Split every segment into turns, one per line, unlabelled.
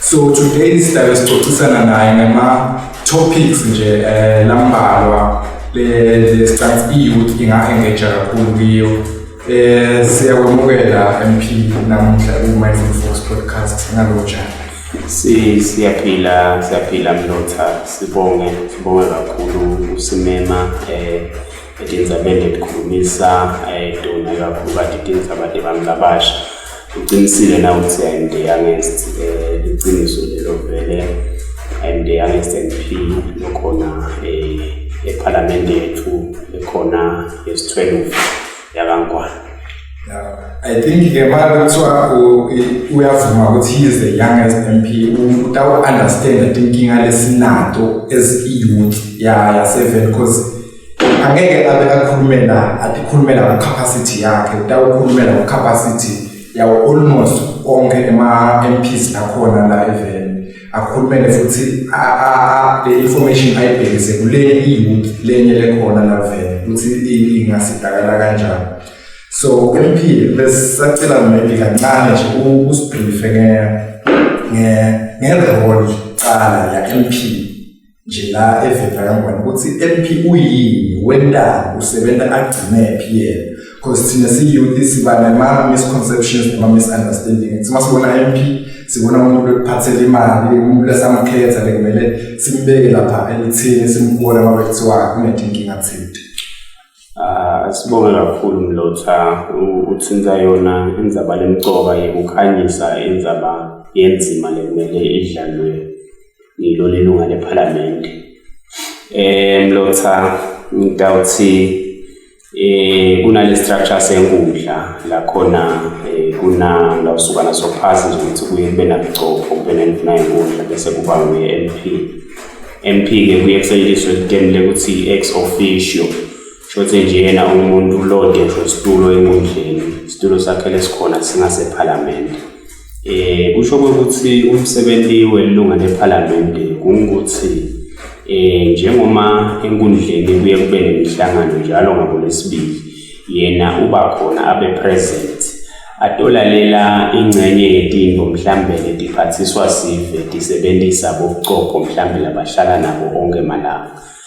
So today sihlale sicocisana naye ngama topics nje eh lambalwa le stance youth inga-engage kakhulu kuyo eh siyakwamukela MP namuhla ku Mindful Fox podcast ngaloja si siyaphila
siyaphila mlotha sibonge sibonge kakhulu usimema eh Idinza bende likhulumisa ayidona kakhulu kade idinza abade bami labasha uqinisile na ukuthi and youngest eh, iqiniso lelo vele and the youngest MP lokhona eh, ephalamende yethu ekhona yesi-12 yakangwana
I think ke manje kuthiwa uyavuma ukuthi he is the youngest MP utawuunderstand that inkinga lesinato as i-youth yasevele because angeke abe akhulumela akhulumela ngecapacity yakhe utawukhulumela ngecapacity yawo almost onke ema-mps akhona la evele akhulumele futhi le information ayibhekise kule i-youth lenye lekhona la vele ukuthi ingasidakala kanjani so ku-mp besisacela maybe kancane nje usibrife ngerole cala ya-mp nje la evenda kangwane ukuthi MP uyini wentanga usebenza agcine phi yena because thina siyouth siba nema misconceptions noma misunderstanding ukuthi uma sibona MP sibona umuntu bekuphathela imali umuntu lesamkhetha bekumele simbeke lapha elithini simbona uma bekuthiwa kunethe inkinga thinte
ah, sibonge kakhulu mlotha uthinta yona indzaba lemcoka yekukhanyisa indzaba yenzima lekumele idlalwe ngilona ilunga lephalamende eh mlotha ngidawuthi eh kunale structure senkundla la khona eh, kuna ngawusukana sophasi nje ukuthi kuye kube nabugcopho kube nenduna yenkundla bese kuba nguye MP MP ke kuye kusetshenziswe item lekuthi ex officio shothi nje yena umuntu ulode ngisho isitulo enkundleni isitulo sakhe lesikhona singasephalamende Eh kusho ukuthi umsebenzi welunga lephalamende kungukuthi eh njengoma enkundleni kuye kube nemihlangano njalo ngolesibili yena uba khona abe present atolalela ingxenye yetinto mhlambe letiphathiswa sive tisebentisa bobucopho mhlambe labahlala nabo onke malanga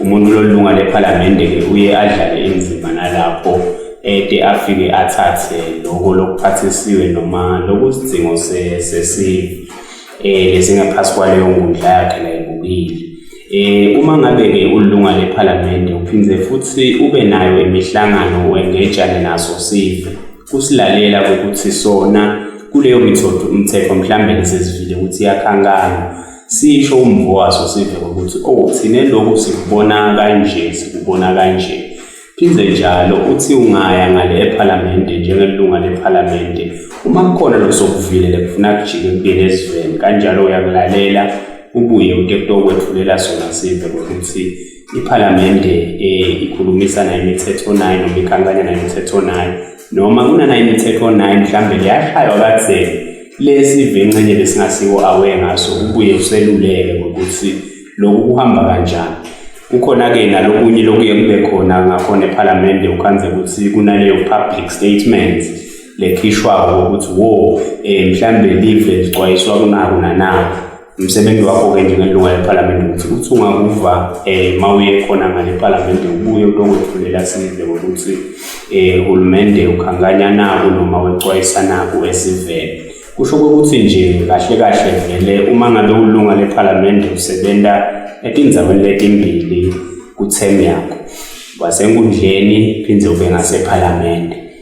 umuntu lolunga lephalamende-ke uye adlale inzima nalapho ede afike athathe loko lokuphathisiwe noma lokusidingo sesive eh lesingaphansi kwaleyo nkundla yakhe layibukile eh uma ngabe ke ulunga lephalamende uphinde futhi ube nayo imihlangano wengejane naso sive kusilalela ukuthi sona kuleyo mithetho umthetho mhlambe lesizivile ukuthi yakhankana Sisho umvo waso sive ukuthi oh thina lokhu sikubona kanje sikubona kanje Phinde njalo uthi ungaya ngale ephalamende njengelunga lephalamende uma kukhona losokuvilela kufuna kujike kubuyele ezweni kanjalo uyakulalela ubuye utekto okwethulela sona sive ukuthi iphalamende um ikhulumisana imithetho nayo noma ikhankanya nayo imithetho nayo noma kunana imithetho 9 mhlambe liyashaywa katheni lesi vencenye besingasiwo awe ngaso ubuye useluleke ngokuthi lokhu kuhamba kanjani kukhona-ke nalokunye lokuye kube khona ngakhona ephalamende ukhanze ukuthi kunaleyo public statement lekhishwako ukuthi wo um mhlawumbe live lixwayiswa kunako nanako umsebenzi wakho ke njengelunga lephalamende ukuthi ukuthi ungakuva um ma uye khona ngale phalamende ubuye uto kwethulela sive ngokuthi um hulumende ukhankanya naku noma wecwayisa naku esivele kusho kokuthi nje kahle kahle vele uma ngabe ulunga lephalamende usebenza etinzaweni letimbili kuthemu yakho wasenkundleni phinde ube ngasephalamende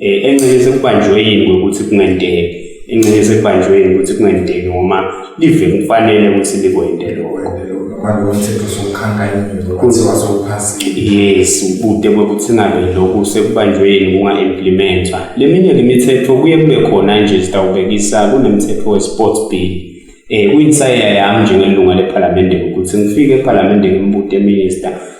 eh, encelise kubanjwe yini ukuthi kungenteki encelise kubanjwe yini ukuthi kungenteki noma live kufanele ukuthi likwente lokho manje umthetho
sokukhanka imvelo kuthiwa sowuphasile yes ubude
bokuthi ngabe lokhu sekubanjwe yini kunga-implementwa le minye ke mithetho kuye kube khona nje zitawubekisa kunemthetho we-sports bill um kuyinsayeya yami njengelunga lephalamende ukuthi ngifike ephalamende ngimbude minister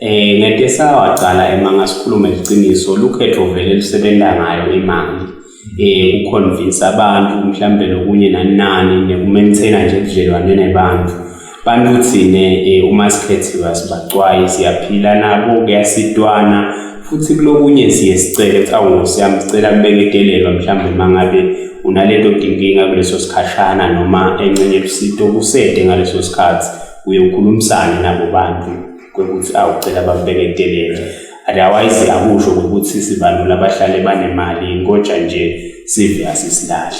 Eh ngeke sawaqala emanga sikhulume iqiniso lukhetho vele lusebenza ngayo imali eh ukuconvince abantu mhlambe lokunye nanani nekumaintaina nje ubudlelwane nebantu bantu thine eh, uma sikhethiwe asibacwayi siyaphila nabo kuyasidwana futhi kulokunye siye sicele ukuthi awu siyami sicela kubeke idelelo mhlambe mangabe unalento dinkinga kuleso sikhashana noma encenye lusito kusede ngaleso sikhathi uye ukhulumisane nabo bantu kokuthi awucela bambeke eteleni otherwise akusho ukuthi sibalula abahlale banemali inkoja nje sive asisilahli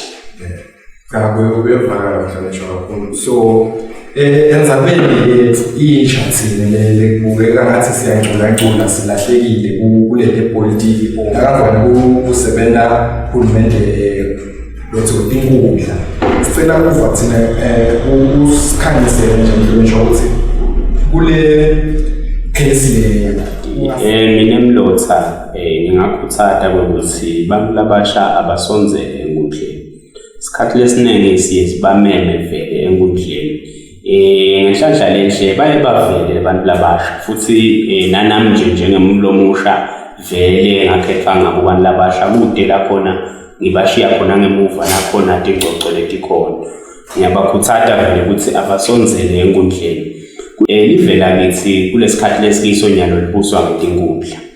cha kuyevakala
mhlawumbe kakhulu so eh, enzabeni yethu intsha thina lele kubukeka ngathi siyangculancula silahlekile kulele politiki ngakavani kusebenza uhulumende eh, lotho inkundla sicela kuva thina um usikhanyisele nje mhlonishwa ukuthi kule case leyo Eh
mina Mlotha eh ngingakhuthata ukuthi abantu labasha abasonzele enkundleni. Isikhathi lesiningi siye sibameme vele enkundleni Eh ngenhlanhla lenhle baye bavele abantu labasha futhi eh, nanami nje njengemuntu omusha vele ngakhetha ngabo abantu labasha kude la khona ngibashiya khona ngemuva nakhona tingcoco letikhona ngiyabakhuthaza vele ukuthi abasonzele enkundleni um livela kithi kulesikhathi lesikiso nyalo libuswa ngetinkundla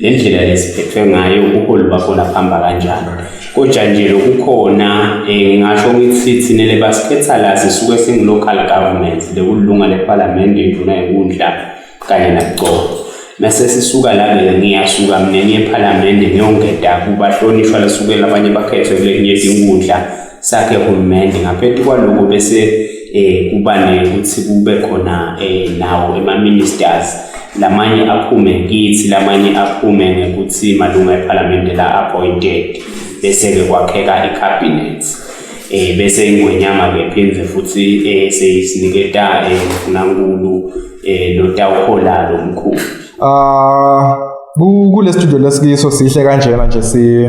nendlela lesiphethwe ngayo ubuholi bakho laphamba kanjani kodwa nje lokukhona um ngasho ngithi thina le basikhetha la sisuke singu-local government lekulunga lephalamende induna yenkundla kanye nakucobo mase sisuka la-ke ngiyasuka mina ngiyephalamende ngiyongeda kubahlonishwa lesukela abanye bakhethwe kulekunye inkundla sakhe hulumende ngaphezu kwaloko bese eh kuba nekuthi kube khona eh nawo ema ministers lamanye aphume kithi lamanye aphume ngekuthi malunga eParliament la appointed bese ke kwakheka iCabinet eh bese ingwenyama ke phinde futhi eh seyisiniketa eh uNkulunkulu eh lotawuhola lo mkhulu ah
ku le studio lesikiso sihle kanjena nje si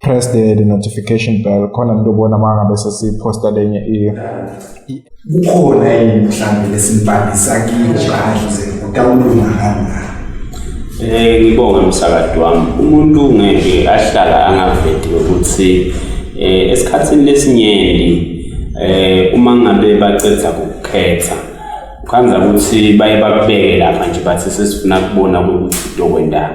press the, the notification bell khona nto bona uma ngabe sesiphosta lenye kukhona yini mhlawumbe lesimbhalisa kile kahle utawulunga kanjani Eh ngibonge
umsakadi wami umuntu ngeke ahlala angavedi ukuthi eh esikhatsini lesinyenti eh uma ngabe bacedza ukukhetha kwanza ukuthi baye bakubeke lapha nje bathi sesifuna kubona ukuthi udokwendani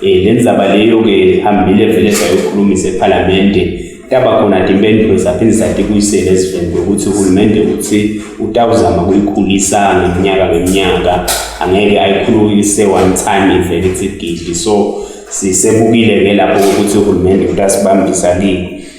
Eh le ndaba leyo ke hambile vele sayokhulumisa ePhalamende yaba khona ke impendulo zaphinde zadikuyisela eziveni ukuthi uhulumende uthi utawuzama kuyikhulisa ngeminyaka ngeminyaka angeke ayikhulukise one time ivele ithi gidi so sisebukile-ke lapho ukuthi uhulumende utasibambisa lini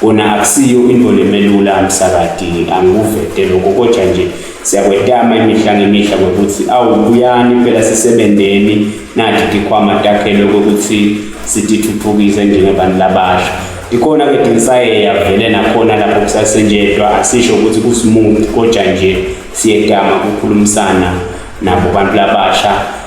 Kona akusiyo into lemelula msakadi angikuvete lokho kodwa nje siyakwetama imihla ngemihla ngokuthi awu buyani impela sisebenzeni nathi tikhwama takhele ukuthi sitithuthukise njengabantu labasha ikhona ke dinsaye yavele nakhona lapho kusasenjedwa asisho ukuthi kusimuthi kodwa nje siyedama kukhulumisana nabo bantu labasha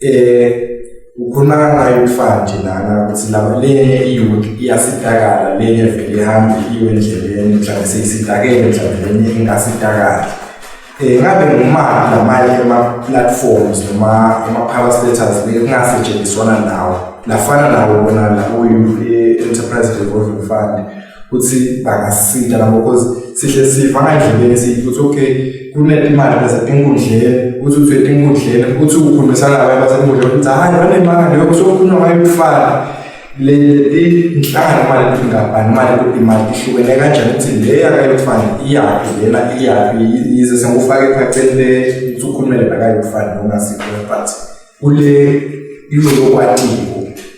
eh ukhuluma ngayo umfana nje lana ukuthi laba lenye iyouth iyasidakala lenye vele ihambe iyo endleleni mhlawumbe seyisidakele mhlawumbe lenye ingasidakali um eh, ngabe ngumaphi lamanye ema-platforms noma ema-power status le kungasetshenziswana nawo lafana nawo bona lakuyi-enterprise eh, revolving fund ukuthi bangasita labo because sihle siva ngandlebeni sithi ukuthi okay kunemali basenkundleni ukuthi uthi enkundleni ukuthi ukhulumisana nabantu basenkundleni ukuthi hayi banemali yoko sokukhulunywa ngayo ukufana le inhlangano mali ukuthi ngabani mali ukuthi imali ihlukene kanjani ukuthi le yakayokufana iyaphi lena iyaphi yize sengufake ephaceni le ukuthi ukhulumele bakayokufana nongasikho but kule iyokwatiko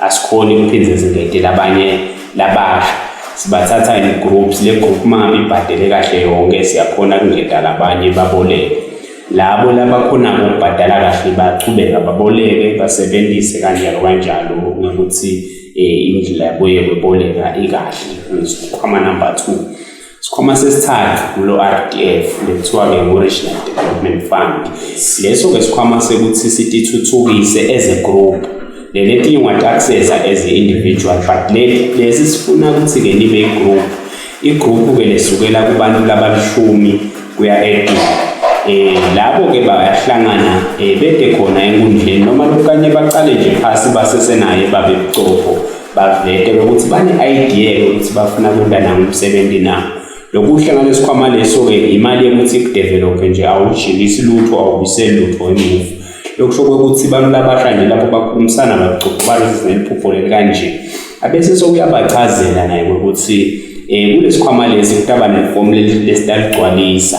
asikhoni ukuphindza zingete labanye labasha sibathatha in groups le group mama ibhadele kahle yonke siyakhona kungeta labanye baboleke labo labakhonako ukubhadala kahle bachubeka baboleke basebenzise kanjalo kanjalo ngokuthi eh, indlela yabo yokuboleka ikahle ngizokhwama number 2 Isikhwama sesithathu kulo RDF lekuthiwa-ke ngu-Regional Development Fund. Leso-ke sikhwama sekuthi sitithuthukise as a group. Leli etinye ungatakiseza as individual but lesi sifuna ukuthi-ke libe i-group. I-group-ke lesukela kubantu labalishumi kuya edini. Eh labo-ke bayahlangana eh bede khona enkundleni noma lokukanye baqale nje phasi basesenaye babe bucopho. Bavete lokuthi bane-idea yokuthi bafuna kunda nangomsebenzi na. Lokuhle ngalesikhwama leso-ke imali yokuthi ikudevelophe nje awujikisi lutho awubiseli lutho emuva. Lokusho kwekuthi bantu labasha nje lapho bakhulumisana bacoca balezi neliphupho leli kanje. Abese sokuyabachazela naye ukuthi um kulesikhwama lesi kutaba nefomu lesi laligcwalisa.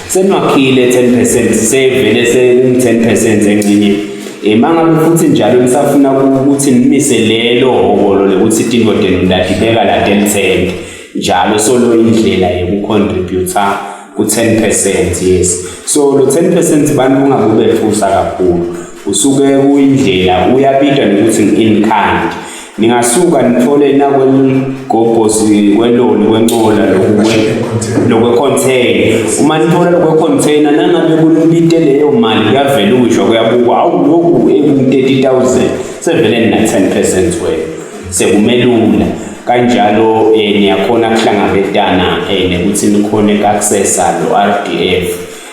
Senwakhile 10 percent sevele sekum 10 percent encinye emanga eh, futhi njalo nisafuna ukuthi nimise lelo hobolo lokuthi tingodeni ndadibeka la 10 cent njalo solo indlela yokucontributor ku-10 percent yes so lo 10 percent bantu ungakubefusa kakhulu Usuke kuyindlela uyabitwa nokuthi ngi-in-kind. Ningasuka nithole nakwelugobhozi kweloli kwencola lokwe-container. Uma nithola lokwe-container nangabe kunibite leyo mali kuyavela ukusho kuyabukwa hawu lokhu eku-30,000 sevele nina-10 percent wena sekumelula kanjalo eh, niyakhona kuhlangabetana eh, nekuthi nikhone kakusesa lo-RDF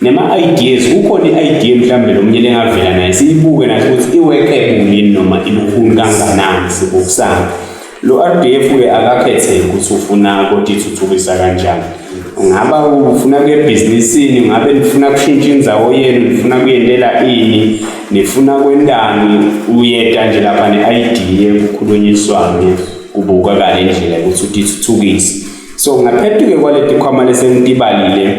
Nema-ideas, kukhona i-idea mhlawumbe lo mnye lengavela naye siyibuke nathi ukuthi i-workable yini noma ilukhuni kanganani sibukusana. Lo RDF-ke akakhetheke ukuthi ufuna kodwa ithuthukisa kanjani. Ungaba ufuna kuye ebhizinisini, ngabe nifuna kushintsha indzawo yenu, nifuna kuyentela ini, nifuna kwentani, uyeta nje lapha ne-idea kukhulunyiswane kubukakale indlela yokuthi utithuthukise. So ngaphetuke kwaletikhwama lesengitibalile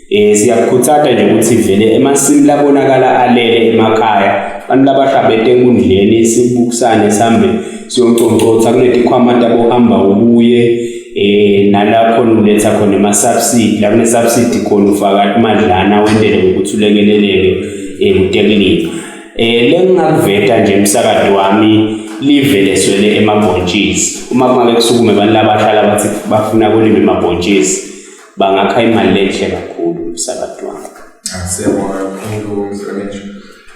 Eh siyakukhutsata nje ukuthi vele emasimi labonakala alele emakhaya abantu labahlabete enkundleni sibukusane sambe siyonconcotha kunetikhwama tabohamba ubuye eh nalapho uletha khona ama subsidy la kune subsidy khona ufaka imadlana wendele ukuthi ulekeleleke ekutekuleni eh, eh lengingakuveta nje umsakado wami live leswele emabhontshisi uma kumake kusukume abantu labashala bathi bafuna kulima emabhontshisi bangakha imali lenhle kakhulu umsakazi wami asiyabonga
kakhulu mhlonishwa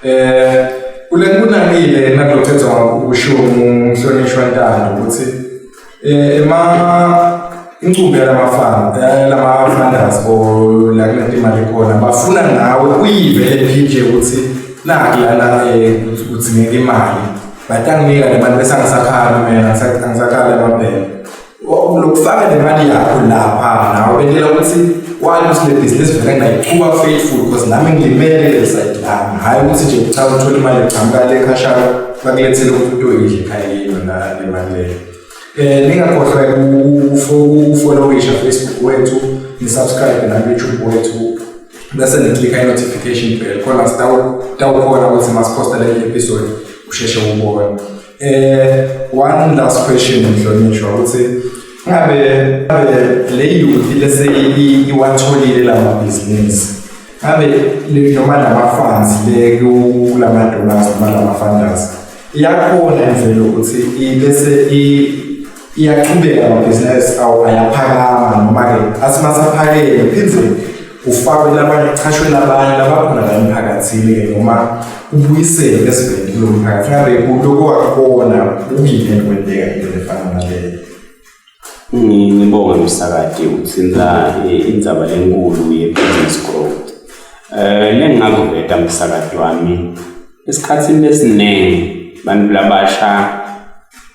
eh kule kunamile enakuthetha ngokusho umhlonishwa ntando ukuthi eh ema incubo yalamafana eh, lama-funders bo la kunetimali khona bafuna nawe uyive le pj ukuthi naki lana um udzingeka imali but anginika le mali bese angisakhali mina angisakhali amabhele lokufaka nemali yakho lapha nawe bengela ukuthi wani ukuthi le bhizinisi vele ngayichuba faithful because nami ngimele le side lami hhayi ukuthi nje cha uthole imali eqhamuka le khashana bakulethele umuntu oyidle ekhaya yilo na le mali leyo um ningakhohlwa ukufolowisha facebook wethu nisubscribe nakuyoutube wethu bese niklika i-notification bell khona sitawukhona ukuthi masiphosta le episode usheshe ubone Eh one last question mhlonishwa ukuthi ngabe ngabe le youth lese iwatholile la mabhizinisi ngabe noma lama funds le kulama donors noma lama funders iyakhona imvelo ukuthi ibese i iyaqhubeka amabhizinisi awo ayaphakama noma-ke asimasaphakele phinde ufakwe labanye uchashwe labanye labakhona la emphakathini-ke noma ubuyisele eziveni kulo mphakathi ngabe kuloko wakubona ubile kwenteka into
efana naleyo ngibonge msakade uthinta eh, indzaba lenkulu ye-business growth um eh, lengingakuveta msakade wami esikhathini lesiningi bantu labasha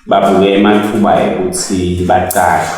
babuke emathuba ekuthi bacashwe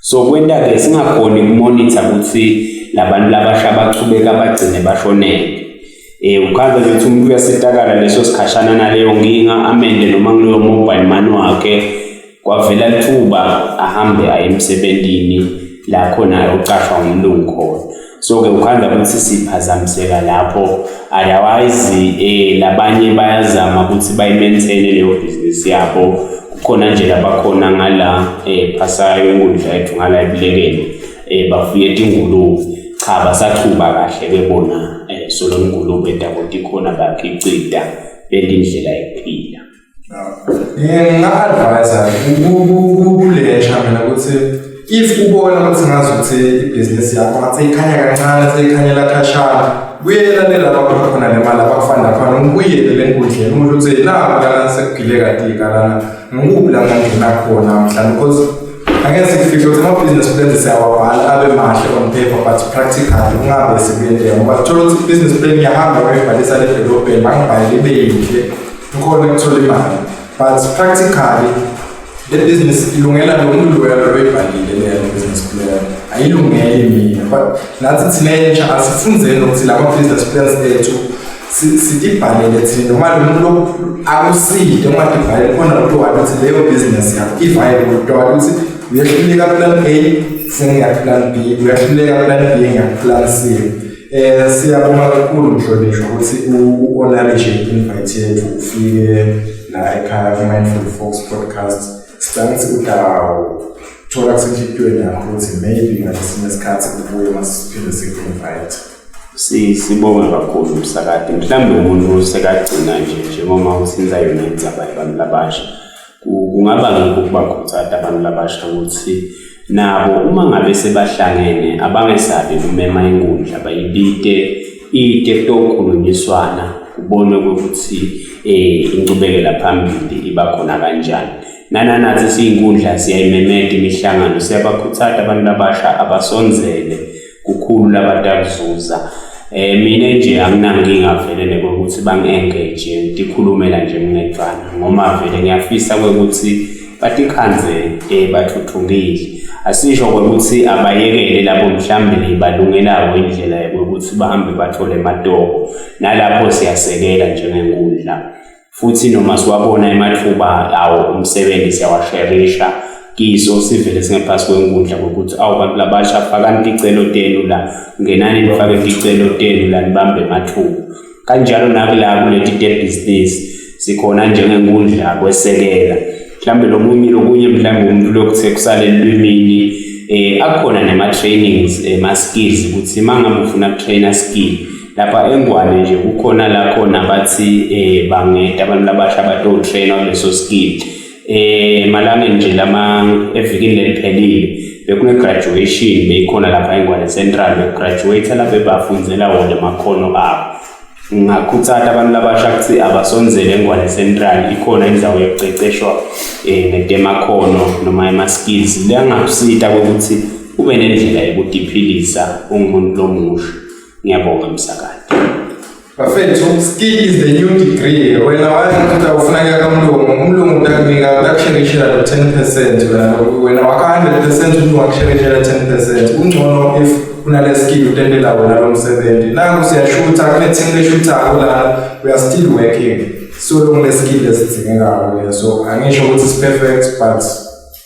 so kwenta-ke singakhoni kumonitha ukuthi labantu labasha bachubeka bagcine bashonele eh ukhaza nje ukuthi umuntu uyasitakala leso sikhashana naleyo nkinga amende noma kuleyo mobile money wakhe kwavela lithuba ahambe aye emsebenzini la khona ayocashwa ngumlungu khona so ke ukhanda ukuthi siphazamiseka lapho otherwise eh labanye bayazama ukuthi bayimaintaine leyo business yabo kukhona nje labakhona ngala eh phasayo inkundla yethu ngala ibulekeni eh bafuye ingulube cha basaqhuba kahle ke bona eh so lo ngulube daboti khona bakhe icida bendindlela yokuphila Nginga-advise
kulentsha mina ukuthi if ubona ukuthi ngazi ukuthi ibhizinisi yakho ngathi ikhanya kancane seyikhanyela khashana kuyelalela lapho khona le mali abakufanda khona ngibuyele le nkundleni umuntu uthi naku lana sekugile katika lana ngikuphi la ngangena khona mhlawumbe because angeke sikufihle ukuthi amabhizinisi plans siyawabhala abe mahle on paper but practical kungabe sikuyenteka ngoba thola ukuthi ibhizinisi plan iyahamba uyibhalisa ledolobheni bangibhalele ibe yinhle ukhona ukuthola imali but practically le business ilungela lo muntu loyo loyibhalile leyo business plan ayilungeli mina but nathi thina entsha asifundeni ukuthi lama business plans ethu sitibhalele thina noma lo muntu akuside uma tibhalele khona lo muntu wathi ukuthi leyo business yakho i-viable kuthiwa ukuthi uyehluleka plan A sengiyakuplan B uyahluleka plan B ngiyakuplan C Eh siyabonga kakhulu mhlonishwa ukuthi u-acknowledge i-invite yethu ufike la ekhaya ku-Mindful Folks podcast. Sicela ukuthi udawo thola kusenhlitiyweni yakho ukuthi maybe ngalesinye isikhathi kubuye masiphinde siku-invite. Si
sibonga kakhulu umsakade. Mhlawumbe umuntu usekagcina nje njengoba usinza yona indzaba yabantu abasha. kungaba ngikho ukubakhuthaza abantu labasha ukuthi nabo uma ngabe sebahlangene abangesabi kumema inkundla bayibite ite kutokhulunyiswana kubonwe ukuthi um eh, inqubekela phambili iba khona kanjani nananathi siyinkundla siyayimemeda imihlangano siyabakhuthaza abantu abasha abasonzele kukhulu labantu abazuza eh mina nje anginankinga vele nekokuthi bangi-engage ngikhulumela nje nginecala ngoma vele ngiyafisa kwekuthi batikhanze eh bathuthukile asisho ukuthi abayekele labo mhlambe libalungelayo indlela yokuthi bahambe bathole matoho nalapho siyasekela njengenkundla futhi noma siwabona emathuba lawo umsebenzi siyawasherisha kiso sivele singaphasi kwenkundla kokuthi awu bantu labasha fakani ticelo tenu la ngenani nifake ticelo tenu la nibambe emathuba kanjalo nakula kuleti te-business sikhona njengenkundla kwesekela mhlawumbe lomunye lokunye mhlawumbe umuntu lokuthe kusale lwimini eh akhona nema trainings ema skills ukuthi mangabe ufuna trainer skill lapha engwane nje kukhona la khona bathi um bangeda abantu labasha batowutrena kuleso skill um eh, emalangeni nje lama evikini leliphelile bekune-graduation beyikhona lapha engwane central bekugraduate lapho ebafundzela wona amakhono abo ngingakhuthata abantu labasha ukuthi abasonzele engwane central ikhona indawo yokuceceshwa um ngetemakhono noma ema-skills liyangakusita kokuthi ube nendlela yokudiphilisa ungumuntu lomusha Ngiyabonga msakade. Bafethu
skill is the new degree. Wena wayengathi awufuneka kamlungu, umlungu utakunika utakusherishela lo 10% wena wena waka 100% umlungu wakusherishela 10%. Kungcono if unale skill utendela wona lo msebenzi. Nangu siyashutha kune team leshutha la we are still working. So long le skill esidzingekayo. So angisho ukuthi it's perfect but